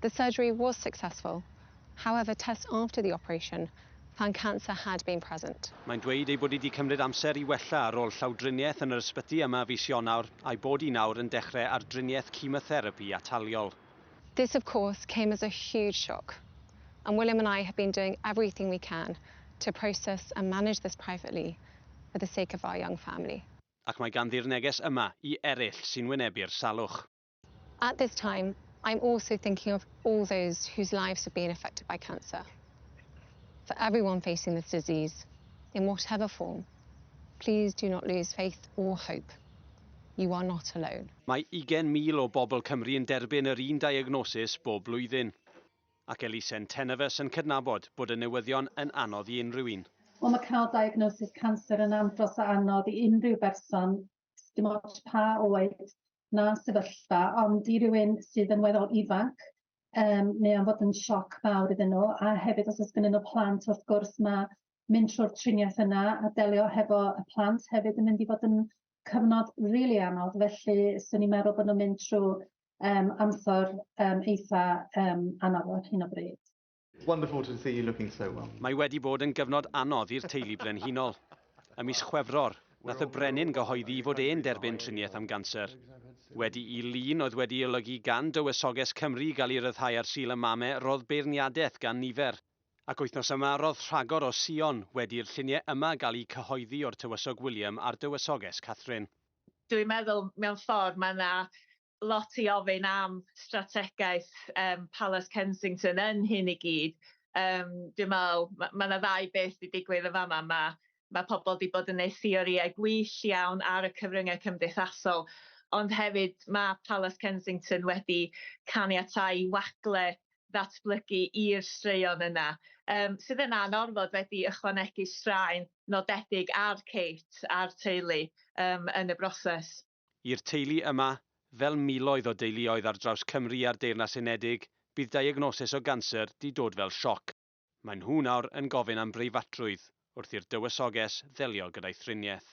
The surgery was successful, however tests after the operation found cancer had been present. Mae'n dweud ei bod hi 'di cymryd amser i wella ar ôl llawdriniaeth yn yr ysbyty yma fis Ionawr, a'i bod hi nawr yn dechrau ar driniaeth chemotherapi ataliol. This of course came as a huge shock and William and I have been doing everything we can to process and manage this privately for the sake of our young family. Ac mae ganddi'r neges yma i eraill sy'n wynebu'r salwch. At this time, I'm also thinking of all those whose lives have been affected by cancer. For everyone facing this disease, in whatever form, please do not lose faith or hope. You are not alone. Mae 20,000 o bobl Cymru yn derbyn yr un diagnosis bob blwyddyn. Ac Elisen Tenefus yn cydnabod bod y newyddion yn anodd i unrhyw un. Wel, mae cael diagnosis canser yn andros o anodd i unrhyw berson, dim ots pa oed na sefyllfa, ond i rywun sydd yn weddol ifanc, um, neu am fod yn sioc mawr iddyn nhw, a hefyd os oes gyda nhw plant, wrth gwrs mae mynd trwy'r triniaeth yna a delio hefo y plant hefyd yn mynd i fod yn cyfnod rili really anodd, felly swn i'n meddwl bod nhw'n mynd trwy um, amser um, eitha um, anodd ar hyn o bryd. Wonderful to see you looking so well. Mae wedi bod yn gyfnod anodd i'r teulu brenhinol. Ym mis Chwefror, nath y brenin gyhoeddi i fod e'n derbyn triniaeth am ganser. Wedi i lun oedd wedi olygu gan Dywysoges Cymru gael ei ryddhau ar Sul y Mame rodd beirniadaeth gan nifer, ac wythnos yma rodd rhagor o Sion wedi'r lluniau yma gael eu cyhoeddi o'r Tywysog William a'r Dywysoges Catherine. Dwi'n meddwl mewn ffordd mae 'na lot i ofyn am strategaeth um, Palace Kensington yn hyn i gyd. Um, dwi'n meddwl, mae ma yna ddau beth wedi digwydd yn fama. Mae ma pobl wedi bod yn neud theoriau gwyll iawn ar y cyfryngau cymdeithasol, ond hefyd mae Palace Kensington wedi caniatau i wagle ddatblygu i'r straeon yna, um, sydd yn anorfod wedi ychwanegu straen nodedig ar Kate a'r teulu um, yn y broses. I'r teulu yma, fel miloedd o deuluoedd ar draws Cymru a'r Deyrnas Unedig, bydd diagnosis o ganser 'di dod fel sioc. Maen nhw nawr yn gofyn am breifatrwydd wrth i'r dywysoges ddelio gyda'i thriniaeth.